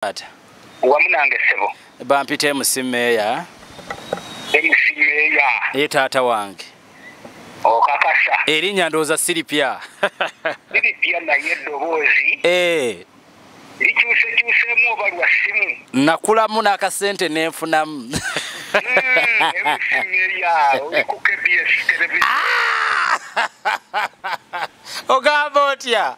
taata wamu nange ssebo bampita emusi meeya emusi meeya ye taata wange okakasa erinnya ndowooza siripya siripya naye eddoboozi eh. likyusekyusemu oba lwa ssimu nakulamu n'akasente nenfunamu ogamba otya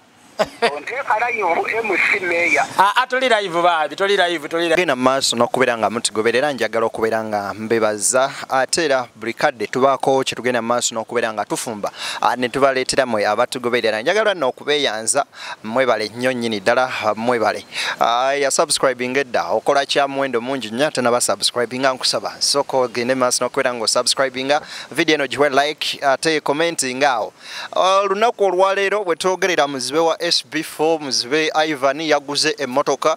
genda mumaaso nokubeera nga mutugoberera njagala okubeera nga mbebaza ate era buli kadde tubaako kyetugenda mumaaso nokubeera nga tufumba ah, netubaleetera mwe abatugoberera njagala no okubeyanza mwebale nnyo nyini ddala ah, mwebale ah, yasubscribing edda okola kya muwendo mungi nnyo ate nabasubscribinga nkusaba sooka ogende mumaaso nokubeera nga osubscribinga vidiyo eno giwe like ate commentinga awo olunaku olwaleero bwetwogerera muzibe wa sb4 muzibe ivan yaguze emotoka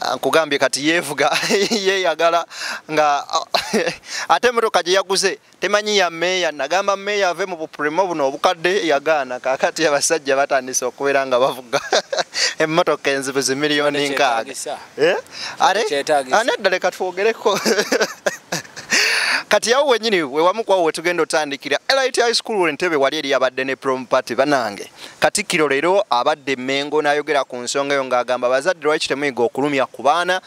ah, nkugambye kati yevuga yeyagala nga ate emotoka gyeyaguze temanyi ya meeya nagamba meeya ave mu bupurimo buno obukadde yagaana kakati abasajja batandise okubeera nga bavuga emotoka enzibu zimiliyoni nkaaga Eh? are anedda leka twogereko kati yawo wenyini wewamu kwawo wetugenda otandikira lit high school wentebe wali eri abadde ne prom party banange katikkiro leero abadde mengo nayogera ku nsonga eyo ng'agamba abazadde lwaki temuyiga okulumya ku baana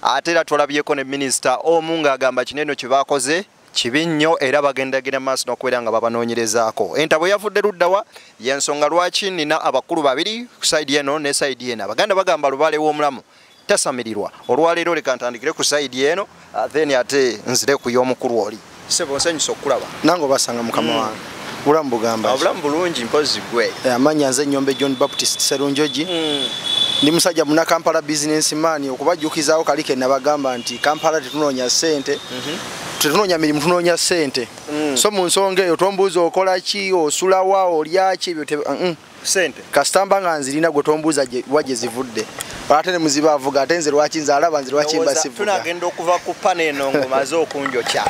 ate era twalabyeko ne minisita omu ng'agamba kineno kye bakoze kibi nnyo era bagendagenda maaso nokubeera nga babanoonyerezaako entabwe yavudde luddawa yensonga lwaki nina abakulu babiri ku saidi eno ne saidi eno abaganda bagamba lubaale w'omulamu tasamirirwa olwaleero leka ntandikire ku saidi eno ah, then ate nzire ku y'omukulu oli sebo nsanyusa okukulaba nange obasanga mukama mm. wange Obulamu bugamba. Obulamu bulungi mpozi gwe. Eh, amanya nze nyombe John Baptist Serunjoji. Mm. Ndi musajja muna Kampala business man okubajukizaawo kali ke nabagamba nti Kampala tetunonya sente. Mm -hmm. Tetunonya mirimu tunonya sente. Mm. So mu nsonga eyo tombuuza okola ki osula wa olya ki ebyo te. Mm -mm. sente kasita mba nga nzirina gwe tombuuza wa gye zivudde ate ne muziba avuga ate nze lwaki nze alaba nze lwaki mba sivuga tunagenda okuva ku pana eno ng'omaze okunjokya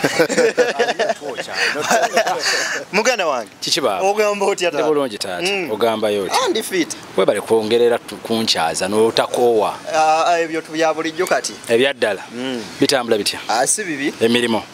muganda wange kiki baaba ogamba otya taata bulungi taata mm. ogambayo otya andi fit webale kwongerera kunkyaza n'otakoowa ah, ah, ebyo bya bulijjo kati ebyaddala mm. bitambula bitya ah, si bibi emirimu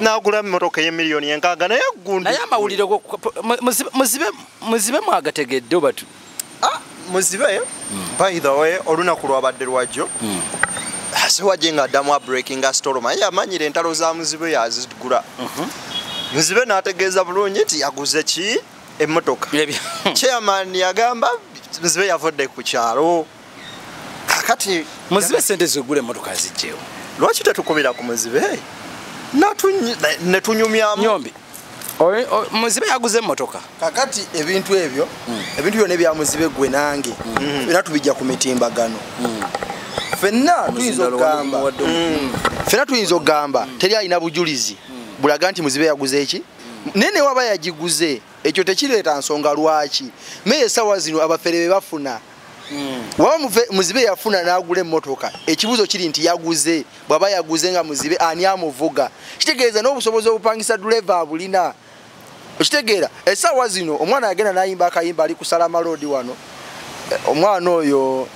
nagula emotoka eyemiliyoni enkaaga naye gundi naye amawulire muzibe muzibe mwagategedde obatu ah, muzibe hmm. by the way olunaku lwabadde lwajjo hmm. siwaje nga addamu abreaking astorm aye amanyire entalo za muzibe yazigula mhm. muzibe n'ategeeza bulungi nti yaguze ki emotoka chairman yagamba muzibe yavudde ku kyalo kakati muzibe sente zegule motoka zijjewo lwaki tetukubira ku muzibe netunyumyamu nyombi muzibe yaguze motoka kakati ebintu ebyo hmm. ebintu byona ebya muzibe gwe nange hmm. era tubijja ku mitimbagano hmm. fenna tuyinza okugamba fenna tuyinza okugamba teri alina bujulizi bulaga nti muzibe yaguze eki naye newaba yagiguze ekyo tekireeta nsonga lwaki naye esawa zino abafere bebafuna waba muzibe yafuna nagula emotoka ekibuzo kiri nti yaguze bwaba yaguze nga muzibe ani amuvuga kitegeeza n'obusobozi obupangisa duleva abulina okitegeera esaawa zino omwana yagenda nayimba akayimba ali kusala maloodi wano eh, omwana oyo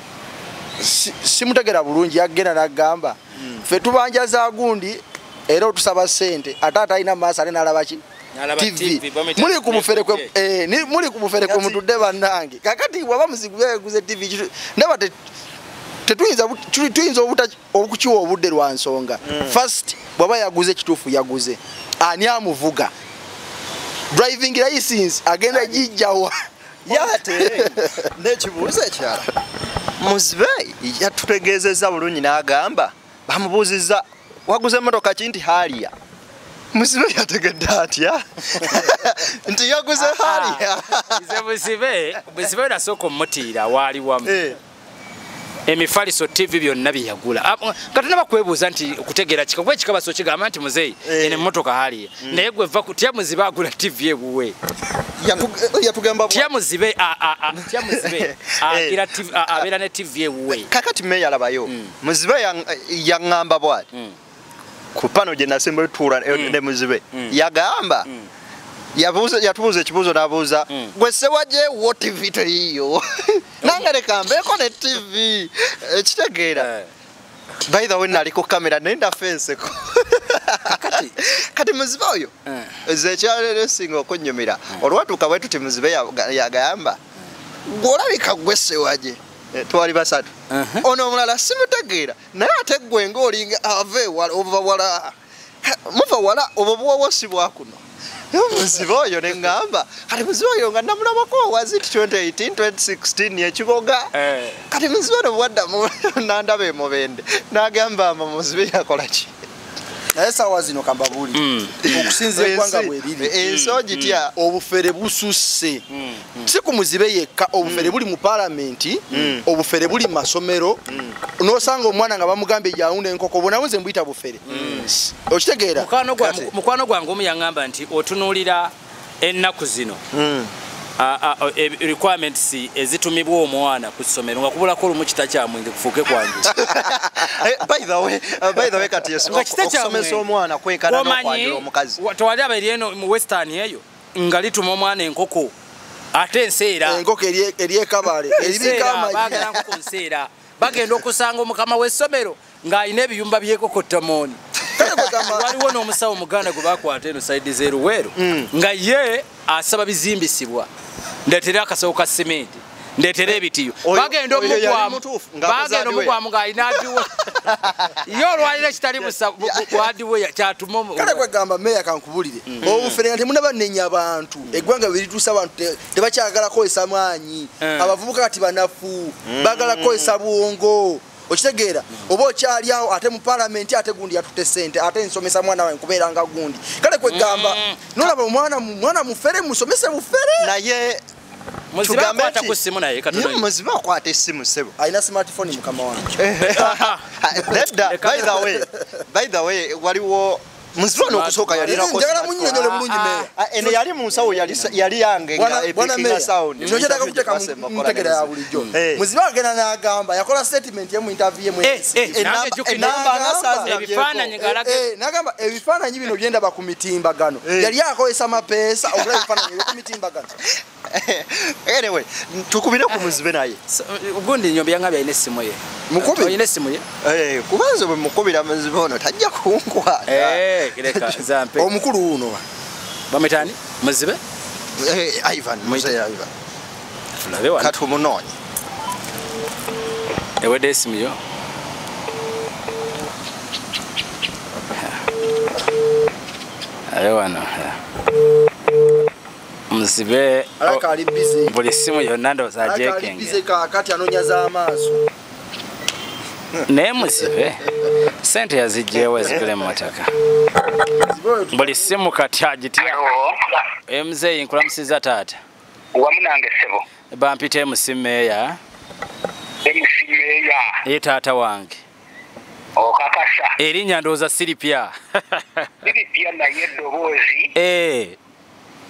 simutegera bulungi yagenda nagamba hmm. fe tubanja za gundi era otusaba sente ate atalina maaso ate nalabaki TV muli ku mufere kwe eh ni muli ku mufere kwe mutude banange kakati waba muzigu bya guze TV kitu ndaba te tetuyinza tuyinza obuta okukiwa obudde lwa nsonga mm. first bwaba yaguze kitufu yaguze ani amuvuga driving license agenda jijjawa yate nekibuuzo ekyala muzibe yatutegeezezza bulungi n'agamba bamubuuzizza waguze emmotoka ki nti haaliya musibe yategedde atya nti yaguze ah, ah. haaliya nze buzibe buzibe nasooka omutiira waali wamu eh. emifaliso tv byonna byeyagula ah, kati naba kwebuuza nti okutegeera kika kuba ekika baso kigamba nti muzeeyi eh. eno emmotoka haaliya mm. naye gwe va tya muzibe agula tv ewuwe tyamuzibe abeera ne tv ewuwe kakati meyalabayo mm. muzibe yaŋŋamba bwati mm. ku pano gye nasemba etuula eh, mm. ne muzibe mm. yagamba yatubuuza ekibuuzo nabuuza gwe sewagyewo tivi teyiyo nange leka mbeeko ne tivi ekitegeera eh, eh. by the way nali ku kamera naye ndafa enseko kati muzibe oyo nze ekyalero esinga okunnyumira olwatuuka bwe tuti muzibe yagamba gwolabika gwe sewagye Eh, twali basatu ono omulala simutegeera naye ate gwe ngaolinga ava ewala ova wala muva wala obwo buwawo si bwakuno muzibe oyo neŋamba kati muzibe oyo nga namulabako owazi ti 2018 2016 yekiboga eh. kati muzibe ono bwaddamu nandaba emubende nagamba mbu muzibe yakolaki naye sawa zino kambabuli mm. okusinza eggwanga bweriri eh, ensi mm. ogitya mm. obufere bususse si ku muzibe yekka obufere buli mu palamenti obufere buli mu masomero nosanga omwana nga bamugambye yawunda enkoko bonawo nze mbuyita bufere okitegeera mukwano gwange omu yaŋamba nti otunuulira ennaku zino hmm. e, requirements ezitumibwa omwana ku ssomero nga kubulako olumu kita kyamwenge kufuuke kwange eh, tewali abaeri eno mu western eyo nga lituma omwana enkoko ate enseera enkoko eryekabale eribika amagibagenda okusanga omukama w'essomero ng'alina ebiyumba by'ekokottamooni waliwo n'omusawo muganda gwe bakwata eno saidi z'eruweero mm. nga ye asaba bizimbisibwa ndeetera akasawo ka simenti ndeetera eh, ebitiyo bagenda omugwamubagenda omugwamu ng'alina adiwe ye olwaliro ekitali busaadiwe kyatumakale kwegamba meya kankubulire mm. mm. obufere nga temuna banenya abantu mm. eggwanga berituusa abantu tebakyagala kukozesa maanyi eh. abavubuka kati banafu bagala kukozesa bwongo okitegeera oba okyali awo ate mu palamenti ate gundi yatutte sente ate nsomesa mwana wange kubeera nga gundi kale kwegamba mm. nolaba omwana mwana mufere musomese bufere naye muziba akwata esimu sebo alina smartphone mukama wange eh, eh, eh, waliwo Mzwano kusoka yali na kosa. Njagala munyonyole bulungi ah, meya. Ah, ene yali mu nsawo yali yali yange nga epikinga sound. Nyo jeta kuteka mutegera ya bulijo. Eh. Muziba agena na agamba yakola statement yemu interview yemu. Eh, eh, eh enamba nasazi na bifana nyigala. Eh, nagamba ebifana nyibi no byenda ba kumitimba gano. Yali yako esama pesa okula bifana nyibi kumitimba gano. anyway tukubire ku muzibe naye ugundi nyombi yanga bya ine simu ye mukubi ine simu ye eh kubanze bwe mukubira muzibe ono tajja kunkwa eh kireka zampe omukulu uno bametani muzibe eh ivan muzibe ivan fulabe wa katu munonyi ewe desimu yo Ayo wana. Yeah. muzibe oh, buli simu yonna ndowooza ajekinge kakati anonya z'amaaso naye muzibe sente yazijjeewo ezigula emmotoka buli simu kati agitya emuzeeyi nkulamusiza taata wamu nange sebo bampita emusimeeya emusimeeya ye taata wange okakasa erinnya ndowooza siripya siripya naye eddoboozi eh.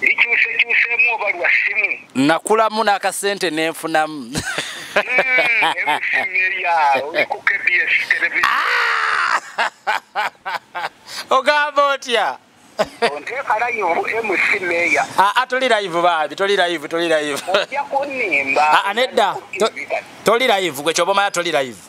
likyusekyusemu oba lwa simu nakulamu n'akasente nenfunamu ogamba otya toli live baabi toli live toli live nedda toli live gwe kyoba omanya toli live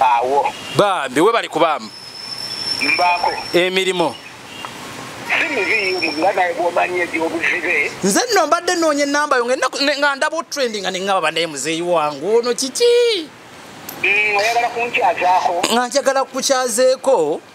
awo bambi webali kubaamu mbaako emirimu nze nno mbadde noonya enamba yo nga ndaba otrending nga nengaba banaye muzeeyi wangu ono kiki mm, nga njagala kukukyazeeko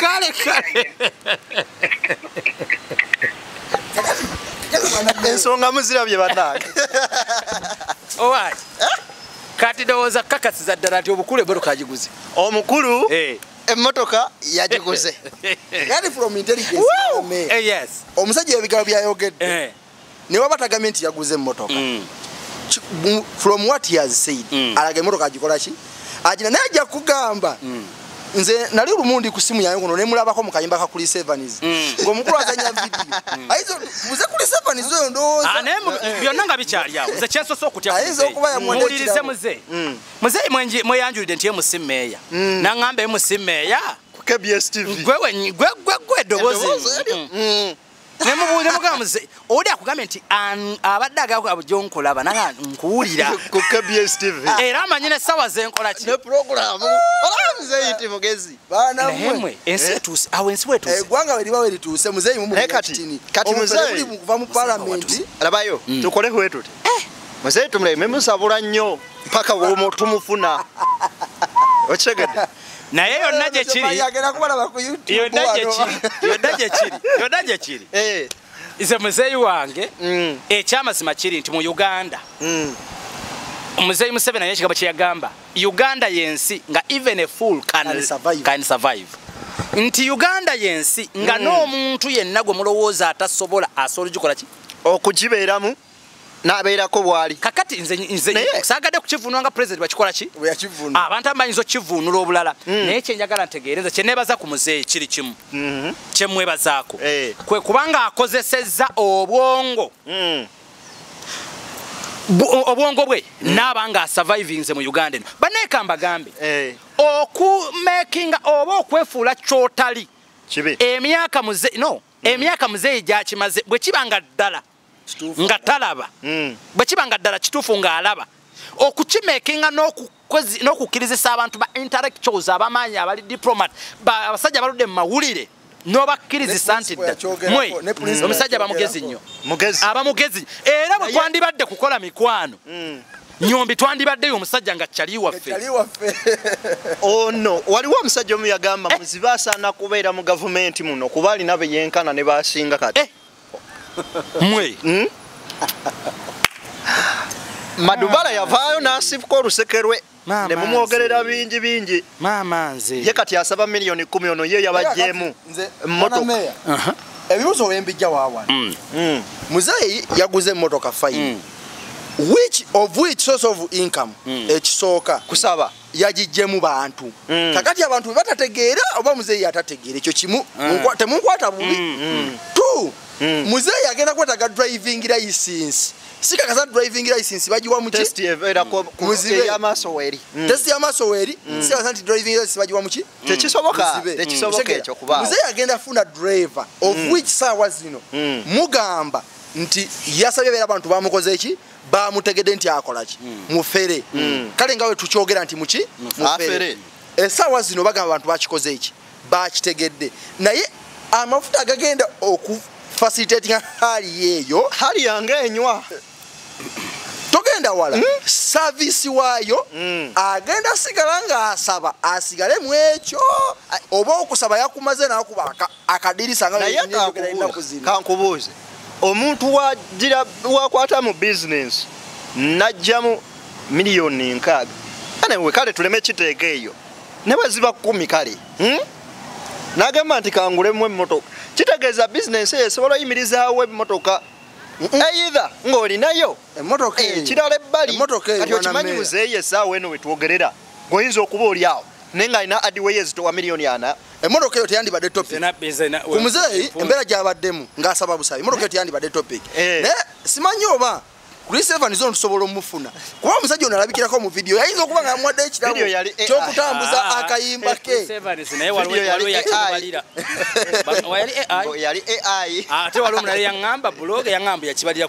kale kale ensonga muzirabye banange owaki eh? kati ndowooza kukakasiza ddala nti obukulu emotoka agiguze omukulu eh. emotoka yagiguze eh, omusajja ebigalo byayogedde ne waba tagambye nti yaguze emmotoka mm. from what he has said mm. alaga emmotoka agikola ki agina naye ajja kugamba mm. nze nali lumu ndi ku simu yange kuno ne mulabako mu kayimba ka Chris Evans mm. ng'omukulu azanya vidiyo mm. ayizo muze Chris Evans oyo ndowooza ah, naye eh. byonna nga bikyali awo nze kyensosa okutya ayiza okuba yamuwulirize muze mm. muze mweyanjulidde nti ye musimeeya naŋŋamba ye musimeeya kbstv gwe gwe gwe eddoboozi nemubuuza mugamba muze oli akugambye nti abadde agaabu gyonkolaba naga nkuwulira ku kbs tv era amanyi nesawa zenkola ki ne programu olaba muzeeyi nti mugezi banamwe ensi eh? etuuse awo ensi wetuuse eh, eggwanga we liba werituuse muzeeyi mumukatini eh, kati muzeeyi kuva mu palamenti labayo hmm. tukole hwetuti muzeeyi tumuleme musabula nnyo mpaka womo tumufuna okitegedde naye yonna gyekiri yonna gyekiri eh. nze muzeeyi wange mm. ekyamazima kiri nti mu uganda mm. muzeeyi museveni naye ekigambo kyeyagamba uganda yensi nga even a fool can survive nti uganda yensi nga mm. n'omuntu yenna gwe mulowooza atasobola asobola ogikola ki okugibeeramu oh, nabeerako bwali kakati nze nze sagade kukivunwa nga president bakikola ki yakivunwa abantu amanyi zo kivunula obulala mm. naye kye njagala ntegeereza kye nebaza ku muzeeyi kiri kimu mm -hmm. kye mwebazaako eh. kwe kubanga akozesezza obwongo mm. obwongo bwe mm. naaba nga survivinze mu uganda eno baneeka mbagambe eh. okumakinga oba okwefuula kyotali emyaka muze no mm. emyaka muzeeyi gyakimaze bwe kiba nga ddala nga talaba mm. bwe kiba nga ddala kituufu ng'alaba okukimekinga n'okukkirizisa abantu ba intellectuals abamaanyi abali diplomat abasajja baludde mu mawulire nobakkirizisa nti mwe mm. omusajja bamugezi nnyo aba mugezi era bwe twandibadde kukola mikwano mm. nyombi twandibaddeyo omusajja nga cali waffe ono oh, waliwo omusajja omu yagamba eh. muzibe asaana kubeera mu gavumenti muno kuba alina beyenkana ne basinga kati eh. mwe hmm? madubala yavaayo n'asibuka oluseke lwe ne mumwogerera bingi bingi maama nze ye kati asaba miliyoni kumi ono ye yabajjeemu mmotoka ebibuzo wembijja wawana mm. mm. muzeeyi yaguze emmotoka fayini mm. which of which source of income ekisooka kusaba yagijjemu bantu mm. kakati abantu bebatategeera oba muzeeyi atategeera ekyo kimu mm. temunkwata bubi mm, mm. t mm. muzeeyi agenda kwetaga driving license sikakasa driving license bagiwa mukitesti yamaaso weeri mm. mm. sikakasa nti driving license bagiwa muki tekisobokamuzeeyi agenda funa driver of which saawa zino mugamba nti yasabye beera abantu bamukoze eki bamutegede nti akolaki mm. mufere mm. kale nga wetukyogera nti muki mufere esawa zino bagamba abantu bakikoze eki bakitegedde naye amafuta agagenda okufacilitatinga hali yeeyo hali yange enywa togenda wala mm. savisi waayo mm. agenda asigala ngaasaba asigale mu ekyo oba okusaba yakumaze nakubaaka akadirisa nga naye kankubuuze kankubuuze omuntu wagira wakwata mu bizinensi najjamu miliyoni nkaaga anewe kale tuleme kiteeka eyo ne bwe ziba kumi kale hmm? nagamba nti kangulemu emmotoka kitegeeza bizinensi eyo esobola oyimirizaawo emmotoka eitha ng'olinayo emmotoka eh, ekirala ebbali kati okimanyi muzeeyi essaawa eno wetwogerera goyinza okuba oli awo naye nga alina adiweyo ezitowa miliyoni ana emmotoka eyo teyandibadde topic ku muzeeyi embeera gyabaddemu ng'asaba busabi emmotoka eyo teyandibadde topic eh. naye simanyi oba Chris Evans ono tusobola omufuna kuba omusajja ono alabikirako mu video yayinza okuba nga amwadde ekirabo kyokutambuza ah, ah, ah. akayimba eh, ke yali ai ate waliwo mulala yaŋamba buloge yaŋamba yakibalira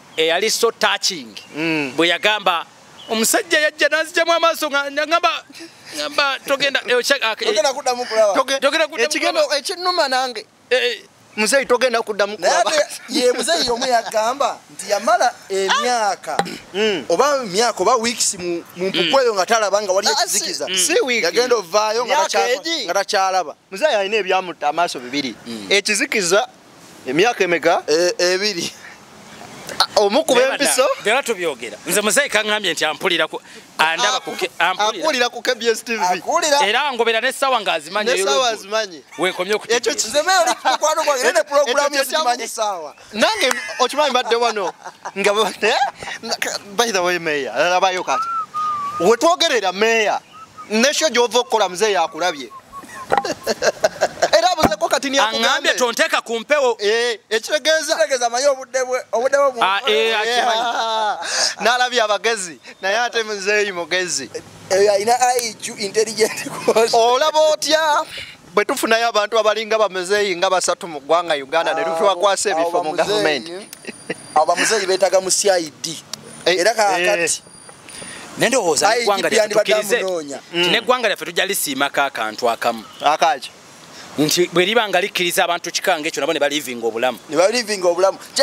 eyali eh, so touching mm. bwe yagamba omusajja yajja nazijjamu amaaso ngamba ngamba togenda eh, ah, eh, ekinuma nange muzeyi togenda kuddamu ye muzeyi omu yagamba nti yamala emyaka mm. oba myaka oba weeks mu mpukweyo mm. nga talaba nga wali ah, ekizikiza yagenda ovaayo nga takyalaba muzeyi alina ebyamutta amaaso bibiri ekizikiza emyaka emeka e, ebiri omukuba empiso byona tubyogera nze muzeyi kaŋambye nti ampulira andabaampulira ku kbs tv era ngobera nesawa nga azimanyimanyi wenkomye nange okimanyi badde wano nga eh? by the way meya alabayo kati wetwogerera meya nesho gyova okukola mzee yakulabye era abuzeko kati niangambye tonteeka ku mpewo eh, ekitegeezategeeza amanyi obuddebweobuddebwe ah, eh, ah. nalabye abagezi naye ate muzeeyi mugezi eh, alina iq intelligent olaba otya bwe tufunayo abantu abalinga bamuzeeyi nga basatu mu ggwanga uganda ne tufiwakwasa ah, ebifo mu gavumenti abo bamuzeeyi beetaga mu cid era kakati nendowooza neggwanga lyaffe tukkirize mm. neggwanga lyaffe tujja lisiimako akantu akamu akaki nti bwe liba nga likkiriza abantu kikanga ekyo nabo ne balivinga obulamu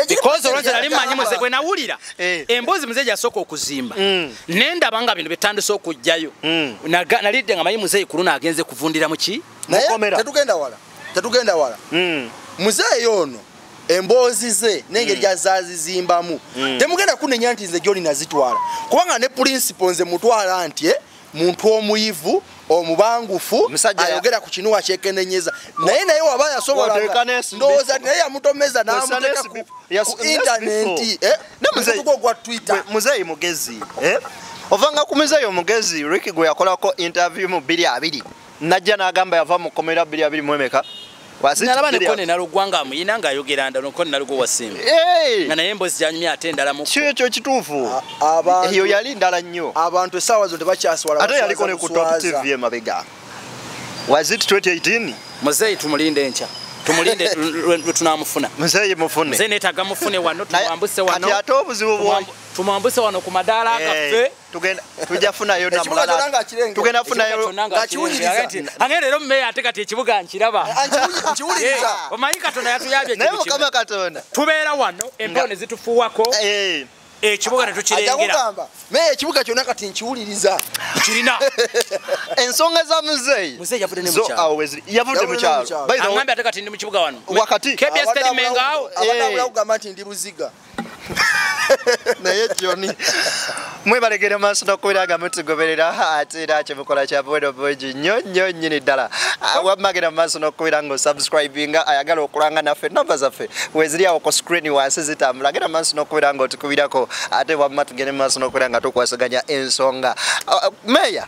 because olwonzi nali mmanyi muze bwe nawulira eh. emboozi muzeeyi yasooka okuzimba mm. ne ndaba nga bino byetandise okujjayo mm. nalidde nga manyi muzeeyi ku luno agenze kuvundira mu ki naye tetugenda wala tetugenda wala mm. muzeeyi ono emboozi ze nengeri mm. gyazazizimbamu mm. temugenda kunenya nti nze gyoli nazitwala kubanga ne pulinsipo nze mutwala nti eh, muntu omuyivu omubangufu ayogera ku kinuwa kyekenenyeza naye naye waba yasobolandowooza naye yamutomeza namuteka ku intaneti eh, nemuzeyi gwa twitter muzeyi mugezi eh? ovanga ku muzeyi omugezi riki gwe yakolako interview mu biri abiri najja n'agamba yava mu kkomera bbiri abiri mu emeka nalaba nekone nalugwanga muyina ng'ayogera nda nokone nalugo wasimba nga naye embozi gyanyumye ate endala mu kyo ekyo kituufu eyo yali ndala nnyo abantu essaawa zo tebakyaswala ate yaliko ne ku top tv emabega was it 2018 muzeeyi tumulinde enkya tumulinde lwetunamufuna muzeeyi mufune muzeeyi netaga mufune wano tumwambuse wano tumwambuse wano ku madaala gaffe tugenda tujja funayo na mulala tugenda funayo ngakiwuliriza ange lero mmeya ate kati ekibuga nkiraba nkiwuliriza eh, omanyi katonda yatuyabye naye mukama katonda tubeera wano empewo ne zitufuwako eh. ekibuga tetukirengera naye ekibuga kyonna kati nkiwuliriza kirina ensonga za muzeeyi yavudde mukyalo ate kati ndi mukibuga wano wakati kbs terimengaawo eh. abadde awulira kugamba nti ndi buziga naye joni mwebalegere maaso nokubira nga mutugoberera ate era kyemukola kya bwero bungi nnyo nnyo nnyini ddala ah, wamagenda mu maaso nokubira nga osubscribinga ayagala okulanga naffe namba zaffe weziri awo ku screen wansi zitambula genda mu maaso nokubira nga otukubirako ate wamma tugende mu maaso nokubira nga tukwasaganya ensonga ah, ah, meya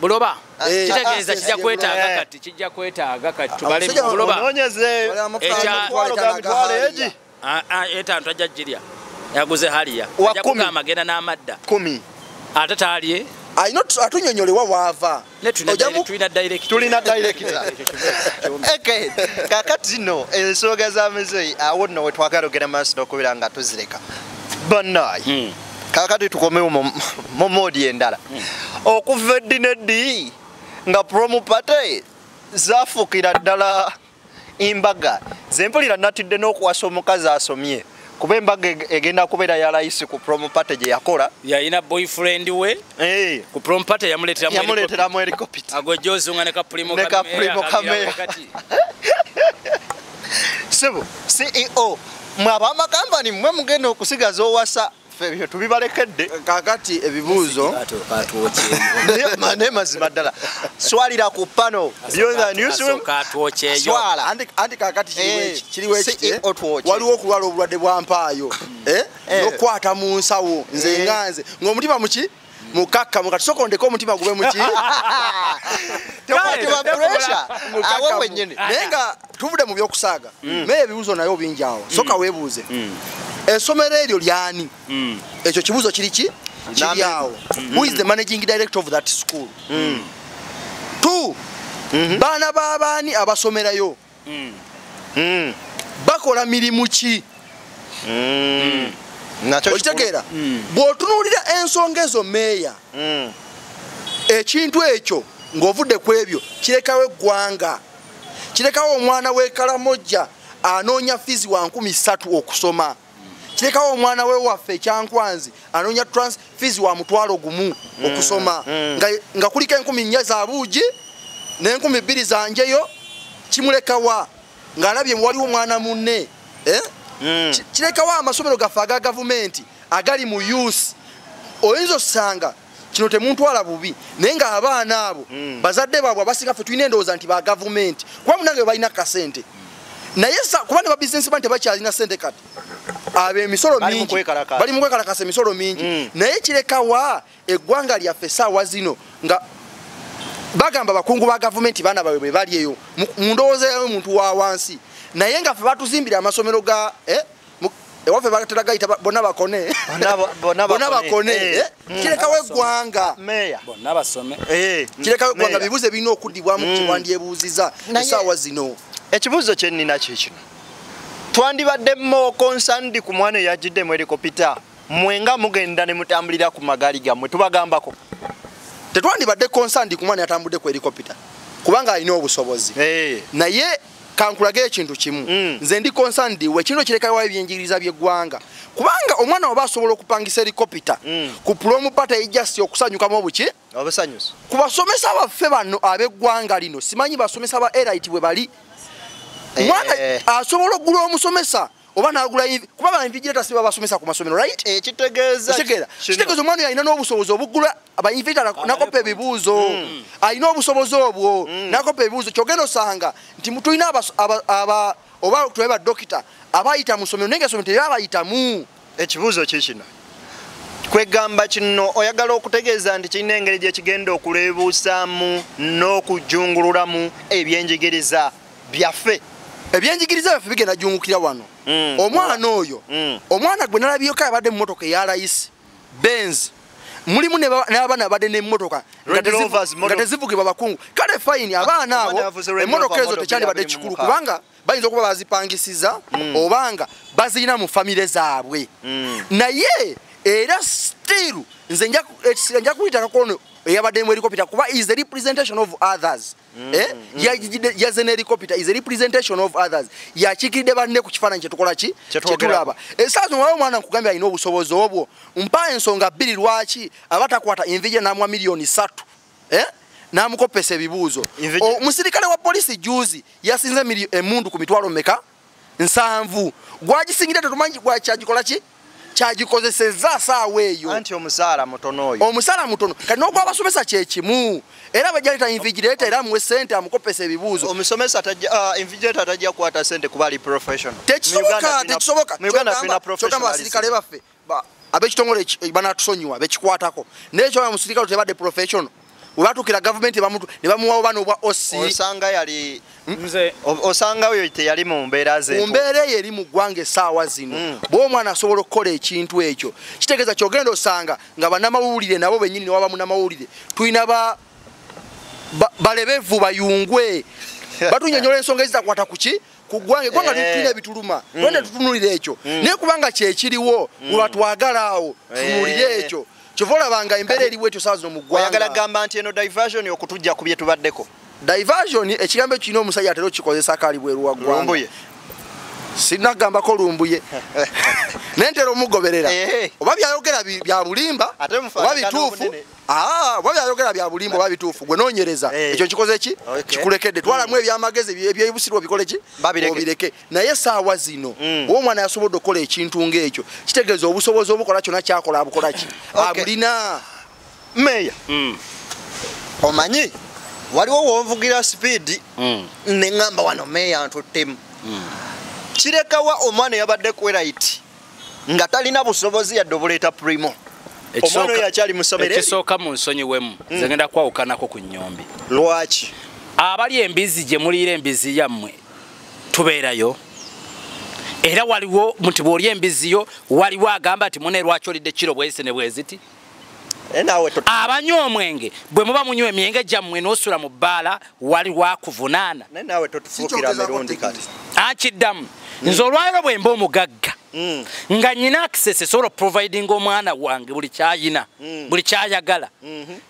buloba eh. kitegeeza kijja kwetaaga eh. kati kijja kwetaaga kati tubale buloba ah, ah, etantu ajja jirya yaguze haliya ajja kugamba agenda n'amadda ate taalye atunyonyolewa waava tulina directa kakati no ensonga za mizeyi awo no wetwagala ogenda maaso nokubeera nga tuzireka banayi hmm. kakati tukomewo mu moodi endala hmm. okuva eddi neddi nga promu pate zafuukira ddala embaga zempulira natidde n'okuwasa omukazi asomye kuba embaga egenda kubeera ya layisi ku prom party gye yakola yalina boyfriend we eh. ku prom party yamuleeteramu helicopita agwejozunga ne kapulimo kameya sebo ceo mwe abamakampani mwe mugenda okusigaza owasa ebyo tubibalekedde kakati ebibuuzo naye mazima ddala swalira ku pano anti kakati kiriwo ekiti waliwo okulwala obulwadde bwa mpaayo eh? Eh. nokukwata mu nsawo nze eh. nga nze ng'omutima muki mukakkamu kati soka ondeka omutima gube muki tekwatibwa puresha awo wenyini naye nga tuvude mu byokusaaga mm. naye ebibuzo naye obingi awo mm. soka webuuze mm. esomero eryo lyani ekyo kibuzo kiri ki kiri awo who is the managing director of that school two mm-hmm. baana babaani abasomerayo mm. mm. bakola mirimu ki mm. okitegeera mm. bw'otunuulira ensonga ezo meeya mm. ekintu ekyo ng'ovudde ku ebyo kirekawo eggwanga kirekawo omwana w'ekalamojja anoonya fizi wa nkumi ssatu okusoma kirekawo omwana we waffe ekyankwanzi anoonya transfees wa mutwalo gumu mm, okusoma mm. nga kuliko enkumi nnya za buugi n'enkumi bbiri zanjeyo kimulekawa ng'alabye waliwo omwana munne eh? mm. kirekawo amasomero gaffe aga gavumenti agali mu us oyinza osanga kino temuntwala bubi naye nga abaana abo mm. bazadde baabwe abasinga ffe tulina endowooza nti ba gavumenti kuba munange balina kasente naye kuba ne babisinesi bani tebakyalina sente kati abo emisolo mingi bali mukwekalakasa emisolo mingi mm. naye kirekawa eggwanga lyaffe saawa zino nga bagamba bakungu ba gavumenti baana bawe bwe bali eyo mu ndowooza yayo omuntu wa wansi naye nga fe batuzimbira amasomero ga eh, ewaffe batera gayita bona bakone bona bakone eh. Eh? Mm. kirekawo eggwanga eh. kirekawo eggwanga bibuuzo ebirina okudibwamu mm. kyewandyebuuziza esaawa zino ekibuuzo kyenina kyekino twandibadde mokonsandi ku mwana eyajidde mu elikopita mwe nga mugenda ne mutambulira ku magaali gammwe tubagambako tetwandibadde konsandi ku mwana yatambudde ku elikopita kubanga alina obusobozi naye kankulage ekintu kimu mm. nze ndi concerned we kino kirekayo ebyenjigiriza by'eggwanga kubanga omwana waba asobola okupangisa helikopita mm. ku pulomu pata ejasti okusanyukamu obuki obusanyusi ku basomesa baffe bano ab'eggwanga lino simanyi basomesa ba erit bwe bali eh. mwana asobola okugula omusomesa oba nagula iv kuba ba invigilators baba basomesa ku masomero right eh kitegeeza kitegeeza kitegeeza omwana yalina n'obusobozi obugula aba invigilators ah, nakopa ebibuuzo mm. alina obusobozi obwo mm. nakopa ebibuuzo kyogenda osanga nti tulina aba oba tube ba dokita abayita mu somero naye nga somero teyabayitamu ekibuuzo kikino kwegamba kino oyagala okutegeeza nti kirina engeri gye kigenda okuleebuusaamu n'okujungululamu ebyenjigiriza byafe ebyenjigiriza byaffe bigenda jungukira wano mm. omwana oyo mm. omwana gwe nalabyeko abadde mumotoka eya layisi benz mulimu n'abaana abadde n'emmotoka nga tezivugibwa bakungu kale fayini abaana abo emmotoka ezo tekyandibadde kikulu kubanga bayinza okuba bazipangisiza mm. obanga bazirina mu famire zaabwe mm. naye era still nze nja kuyitakako ono eyabadde mu erikopita kuba is the representation of others Mm, eh? mm, mm. yajide yaze ne recopita is a representation of others yakikide banne ku kifananyi kyetukola ki kyetulaba esazo wao mwana nkugambye alina obusobozi obwo mpa ensonga bbiri lwaki abatakwata envije namwa milioni satu eh? namukopesa ebibuuzo omusirikale wa polisi juzi yasinze emundu ku mitwalo meka nsanvu gwagisingira tetumanyi gwakyagikola ki kyagikozesezza asaawa eyo anti omusaala mutono oyo omusaala mutono kati n'ogwabasomesa kyekimu era bajaleta invigireta era muwe sente amukopesa ebibuuzo omusomesa uh, invigireta tajja kukwata sente kuba ali professional tekisoboka tekisoboka kyogamba abasirikale baffe abekitongole eh, banatusonyiwa bekikwatako naye kyoa musirikale tebadde professional webatukira gavumenti nebamuwawo bana obwa osanga yali nze osanga oyo teyali mu mbeera ze mbeera eyo eri mu ggwanga esaawa zino mm. bwe omwana asobola okukola ekintu ekyo kitegeeza kyogenda osanga nga banamawulire nabo benyini newaba munamawulire tulina ba balebevu bayungwe batunyonyola ensonga ezitakwata kuki kugwanga egwanga eh. tulina ebituluma mm. lwande tutunulira ekyo mm. naye kubanga kyekiriwo mm. olwatwagala awo eh. tunulire ekyo kyova olabanga embeera eriwo ekyo saa zino mugwayagala gamba nti eno diversion okutujja ku byetubaddeko diversion ekigambo ekyo kirina omusajja atera okikozesa kaali bweru wa gwanga sinagambako lumbuye naye ntera omugoberera eh. oba byayogera bya bulimba oba bituufu Ah, bwa byayogera bya bulimbo oba bituufu gwe noonyereza eh. ekyo kikoze ki kikulekedde twalamu hmm. ebyamagezi ebyebusirwa bikole ki obireke naye saawa zino hmm. oba omwana yasobodde okukola ekintu ng'ekyo kitegeeza obusobozi obukola kyona kyakola abukola ki abulina meeya hmm. omanyi waliwo wonvugira sipiidi neŋamba wano meeya ntuttemu kirekawa omwana yabadde kwerayiti nga talina busobozi yadde obuleeta primo omwana oyo akyali musomere ekisooka mu nsonyi wemu mm. nze ngenda kwawukanako ku nyombi lwaki abali embizi gye muliira embizi yammwe tubeerayo era waliwo nti bw'oli embizi yo waliwo agamba nti mune lwaki olidde kiro bwezise ne bweziti abanywa omwenge bwe muba munywa emyenge gyammwe n'osula mu bbaala wali wakuvunaana akiddamu nze olwaliro bwe mba omugagga mm. nga nyina akisese sobola oprovidinga omwana wange buli kyayina mm. buli kyayagala mm-hmm.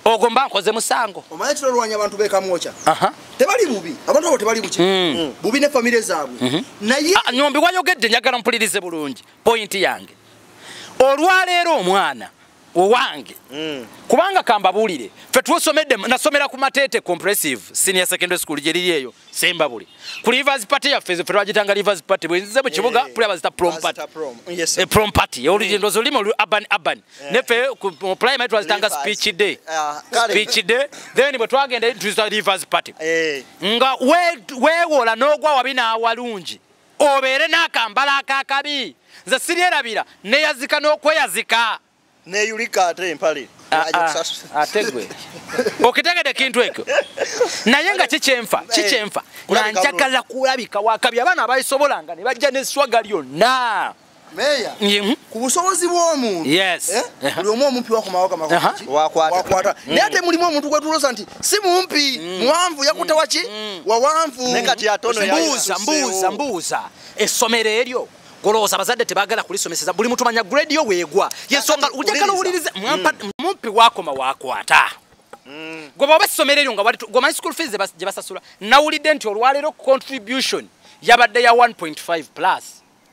ogwo mba nkoze musango omanyi kino olwanya abantu bekamwoca tebali bubi abantu abo tebali buki mm. bubi ne famire zaabwe mm-hmm. naye ah, nyombi wayogedde njagala mpulirize bulungi pointi yange olwaleero omwana owange mm. kubanga kambabuulire fe twosomedde nasomera ku mateete compressive senior secondary school gyeriri eyo semba buli ku livers party yaffe fe twagitanga livers party bwenzize mu kibuga yeah, yeah. bazita prom party yes, e prom party olugendo mm. olimo urban urban yeah. nefe ku primary twazitanga speech day uh, speech day then bwe twagenda tuza livers party yeah. nga wewola we n'ogwa wabi n'awalungi obeere n'akambala akakabi nze siryerabira neyazika n'okweyazika neyulika ate empale ah, ah, ate gwe okitegede ekintu ekyo naye nga kikyenfa eh, kikyenfa nga njagala kulabika wakabi abaana abayisobolanga ne bajja neswaga lyonna Meya, mhm. ku busobozi bw'omuntu eh? uh-huh. buli omu omumpi wakumawaka uh-huh. wakwata mm. naye ate mulimu omuntu gwetulosa nti si mumpi mm. muwanvu yakuta mm. waki wawanvumbuuzambuuza essomero eryo golowooza abazadde tebagala kulisomeseza buli mutumanya grade yo weegwa yensonga ojagala owuliriza mumpi wakoma wakwata gwe bwoba essomero eryo nga gwomanyi school fees gye basasula nawulidde nti olwaleero contribution yabadde ya 1.5 plus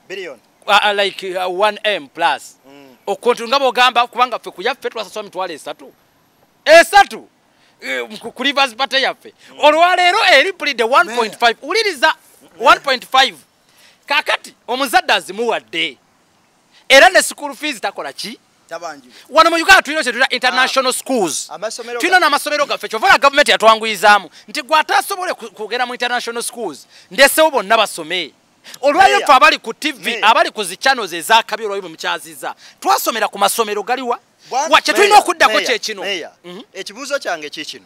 billion uh, uh, like uh, 1m plus mm. okontu nga bogamba kubanga ffe kuyaffe twasaswa mitwalo esatu esatu eh, ku rivers party yaffe mm. olwaleero eripulidde 1.5 wuliriza 1.5 kakati omuzadde azimuwadde era ne school fees takola ki wano mu uganda tulina kyetuta ah. international schools tulina n'amasomero gaffe kyovaola gavumenti yatwanguyizaamu nti gwataasobole kugenda mu international schools ndesewo bonna basome olwayo ffe abali ku tv abali ku zi channels ezakabi olwayo bwemukyaziza twasomera ku masomero galiwa wa kyetulina okuddako kyekino mhm. ekibuuzo kyange kikino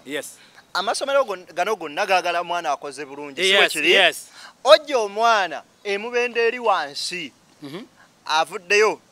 amasomero gano gonna gagala mwana akoze bulungi siwekiri ojja omwana emubenda eri wansi mhm. avuddeyo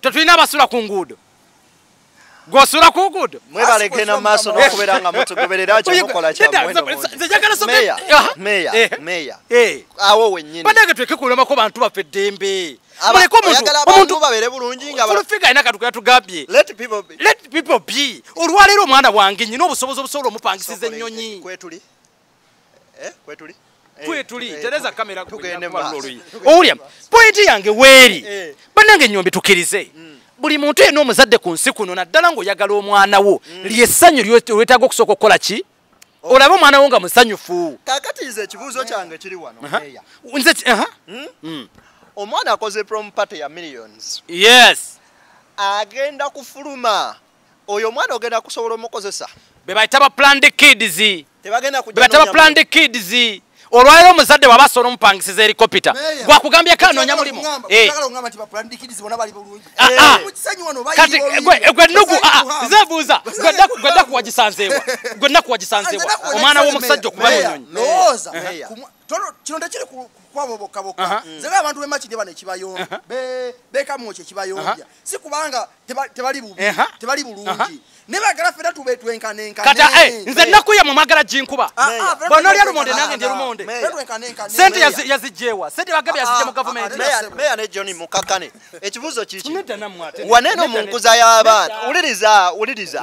tetulina abasula ku nguudo gwosula ku nguudo mwebalegenda maaso nokubera nga mutugoberera kyomukola kyamwemeya meya awo wenyini banange twekekulemako bantu baffe eddembe muleke omuntu babeere bulungi nga fulufiga alina katukuya tugambye let people be olwaleero omwana wange nyina obusobozi obusobola omupangisiza ennyonyi kwetuli eh, kwetuli eh, kwetuli eh, tereza kamera owulya pointi yange weeri banange nyombi tukirize mm. buli muntu yena omuzadde ku nsi kuno naddala ngaoyagala omwana wo mm. lyessanyu lwetaaga okusooka okukola ki olaba omwana wo nga musanyufu kakati nze ekibuuzo kyange kiri wano nze hmm? Hmm. omwana akoze prom party ya millions yes agenda kufuluma oyo omwana ogenda kusobola omukozesa bebayita ba planned kids bebayita ba planned kids olwalero omuzadde waba asobola omupangisiza erikopita gwakugambye kanonya mulimu eh. ah, eh. ah. kati eh, gwe nugu ah, zebuuza gwe nakuwagisanzeewa gwe nakuwagisanzeewa omwana w'omusajja okuba munyonyi kino tekiri kukwabo bokka bokka nze nga abantu bemakide bano ekibayombya bekamu ekyo ekibayombya si kubanga tebali bubi tebali bulungi nebagala fena tube twenkanenkate eh, nze ennaku yamwe mwagala ginkuba ah, ah, bona olya lumonde nange ndi lumonde sente yazijjewa sente bagabye yazijja mu gavumenti meya ne john mukakane ekibuzo kikiwaneno mu nkuza y'abaana wuliriza wuliriza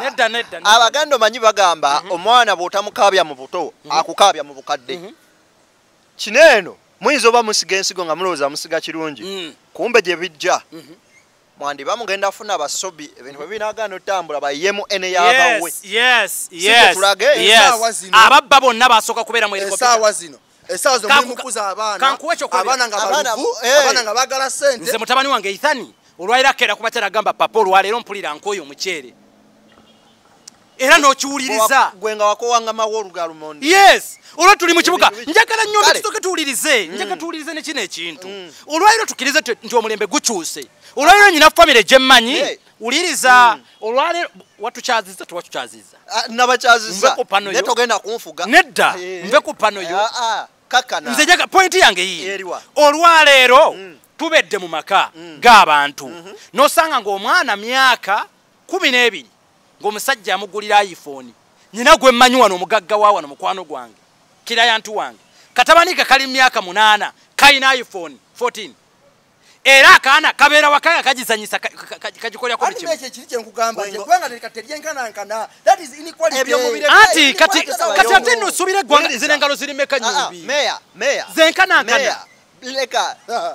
abaganda omanyi bagamba mhm. omwana bw'otamukaabya mu buto mhm. akukaabya mu bukadde mhm. kino eno muyinza oba musiga ensigo nga mulowooza musiga kirungi mm. kumbe gye bijja mwandi bamugenda afuna basobi ebintu bwe binagaana otambula bayemu ene yabawe tulage ababba bonna basooka kubeera mu esaawa zino esaawa zo Kanku- mulimukuza abaana kankuwe ekyokubiri. abaana nga Abaana- baluvu eh. abaana nga bagala sente nze mutabani wange ithani olwaliro akeera kuba kyaragamba papa olwaleero mpulira nkooyo omuceere era n'okiwuliriza gwe nga wakowangama wolugalumondi yes olwo tuli mu kibuga Ebi- njagala nnyo Kale. tusoke tuwulirize njagala tuwulirize ne kino ekintu olwaliro tukirize tu- nti omulembe gukyuse olwaliro nyina famire gyemmanyi Eh. wuliriza hmm. olwaleero watukyaziza tewatukyazizza ah, nabakyaziza naye togenda kunfuga nedda eh. nve ku pano yo ah, ah, kakana nze jaga pointi yange yii olwaleero hmm. tubedde mu maka hmm. g'abantu mhm. nosanga ng'omwana myaka kumi n'ebiri ng'omusajja amugulira ayifoni nyina gwe mmanyi wano omugagga wa wano mukwano gwange kirayantu wange katabani ke kali myaka munaana kalina ayifoni 14 era akaana kabeera waka nga kagizanyisa kagikolera ku buli anti kati ate no osuubira eggwanga zino engalo ziri meka nyombi zenkanankana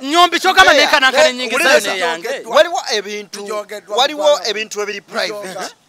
nyombi kyogamba nenkanankana enyingizayo neyange waliwo ebintu ebiri private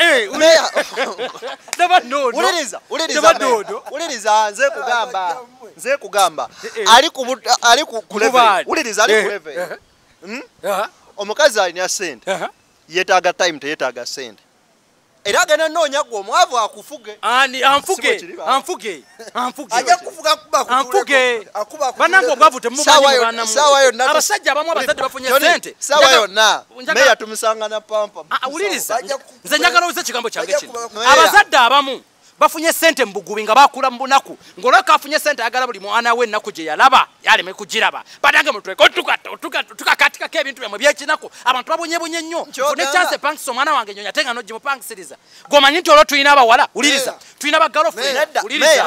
Eh, uliriza nze kugamba nze kugamba eh, eh. ali ali ku level uliriza ali ku level hmm? omukazi alina sente yetaaga time teyetaaga sente era agenda noonya gwe omwavu akufuge anfuge anfuge banange obwavu temumanyiabasajja abamu abazadde bafunye sente awuliriza ah, nze njagala oze ekigambo kyange kino abazadde abamu bafunye sente mubugubi nga bakula mubunaku ngaolabka afunye sente ayagala buli mwana we enaku gyeyalaba yaleme kugiraba banange mutuetukakatikako ebintu byamwe byekinaku abantu babonyebonye nnyo nekyanse pankisa omwana wange nyonya ate nga nogimupankisiriza gomanyi nti olwo tulina abawala wuliriza tulina bagalofuliriza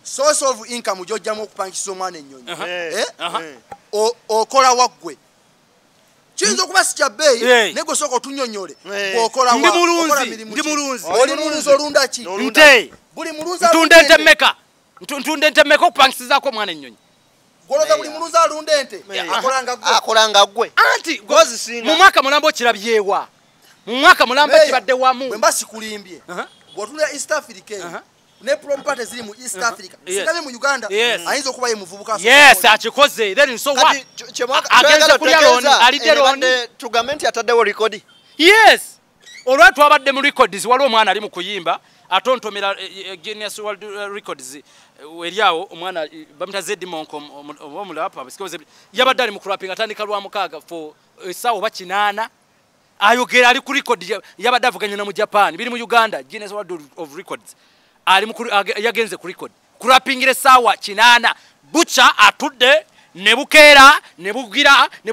source of income gyojjamu okupangisa omwana ennyonyi eh? okola waggwe kiyinza okuba si kyabbeeyi naye gwe sooka otunyonyole okola ndi mulunzi ndi mulunzi oli mulunzi olunda ki nte buli mulunzi ntunda ente meka ntunda ente meka okupangisizaako omwana ennyonyi goloza buli muluzi alunda ente akolanga gwe anti mu mwaka mulamba okirabyewa mu mwaka mulamba kibadde wamu bwe mba sikulimbye bwotunda east africa ne prompate ziri mu east africa sikabe mu uganda ayinza okuba ye muvubuka yes akikoze then so what agenda kulya loni alidde loni tugambe nti ataddewo likodi yes olwa twabadde mu records waliwo omwana ali mu kuyimba atontomera eh, eh, eh, genius world records eryawo omwana bamita zedi monko omulapa yabadde ali mu kurapinga atandika lwa mukaaga fo esawa oba kinaana ayogera ali ku record yabadde avuganya na mu japan biri mu uganda genius world of records ali mu yagenze ku record kurapingira esawa kinaana bucha atudde ne bukeera ne bugira ne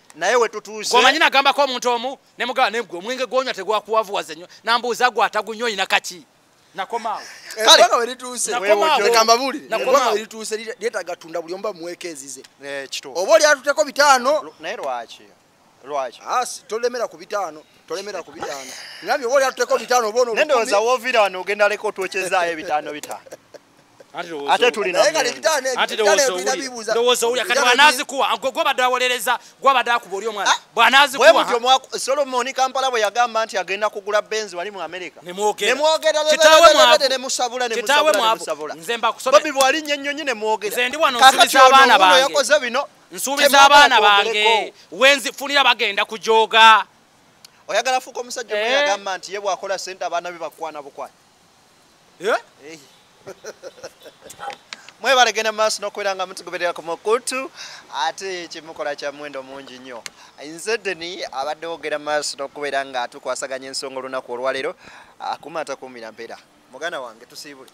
naye wetutuuse omanyi nagambako omuntu omu nemugaa negwe omwenge gwonywa tegwakuwavuwaza nyo nambuuza gwe atagunywa olina kaki nakomaawo eh, lyetaga tunda buli omuba muweeka ezize eh, oba oli atuteko bitaano naye lwaki lwaki ah, tolemera ku bitaano tolemera ku bitaano ngambi oba oli atuteko bitaano oba onondowoza wovira wano ogenda leka otwekyezaayo ebitaano bitaano ate tulinalowooza olya kati bwanazikuwa gwobadde awolereza gwabadde akuba oli omwana ah, bwanazikuwasolomoni kampala bwe yagamba nti agenda kugula benzi wali mu amerika nemwogerkitawemuabobi bwali nyenyonyi nemwogerayakoze bino nsuubiza abaana bange wenzifunira bagenda kujoga oyagala fuuka omusajja omuagamba eh. nti ye bwakola sente abaana be bakwana bukwana Eh? mwebale genda maaso nokubeera nga mutugoberera ku mukutu ate kyemukola kya muwendo mungi nnyo nze deni abadde wogera maaso nokubeera nga tukwasaganya ensonga olunaku olwaleero akuma atakuumira mpeera muganda wange tusiibule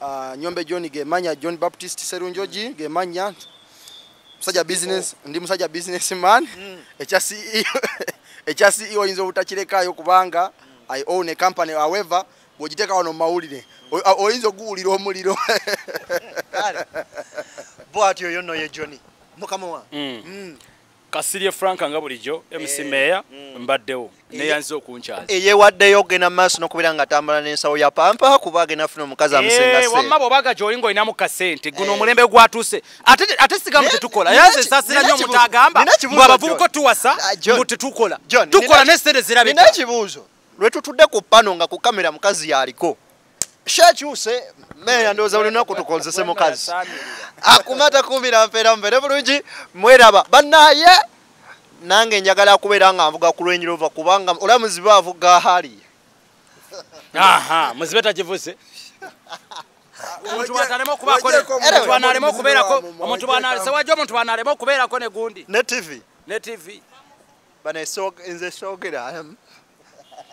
ah, nyombe john gemanya john baptist serunjogi mm. gemanya musajja business ndi musajja business man mm. ekya ceo e oyinza obutakirekayo kubanga mm. I own a company however bwogiteeka wano mumawulire oyinza okuwulira omuliro bwati oyo no ye joni mukama wa mm. mm. kasirye frank nga bulijjo mc eh. meya mm. mbaddewo neyanziza okunkyala eyewaddeyo ogenda maaso nokubeera nga atambula nensawo ya pampa kuba agenda funa omukazi amusenga eh, wamma bwobaga gyoli nga olinamu kasente guno eh. omulembe gwatuuse ate sigamu tetukola yaze sasira nyo mutagamba mwabavubuko tuwasa ah, mbu tetukola tukola ne sente zirabika nina kibuzo lwe tutude ku pano nga ku kamera mukazi yaliko shakyuse meya ndoza ulina kutukonzese mukazi akumata kumira mpera mbere bulungi mweraba banaye nange njagala kubeera nga nvuga ku lwenyi lova kubanga ola muzibe avuga hali aha muzibe takivuze omuntu bwatalema okubaako bwanalema okubeerako omuntu bwanalese wajja omuntu bwanalema okubeerako ne gundi ne tv ne tv bano nze soogera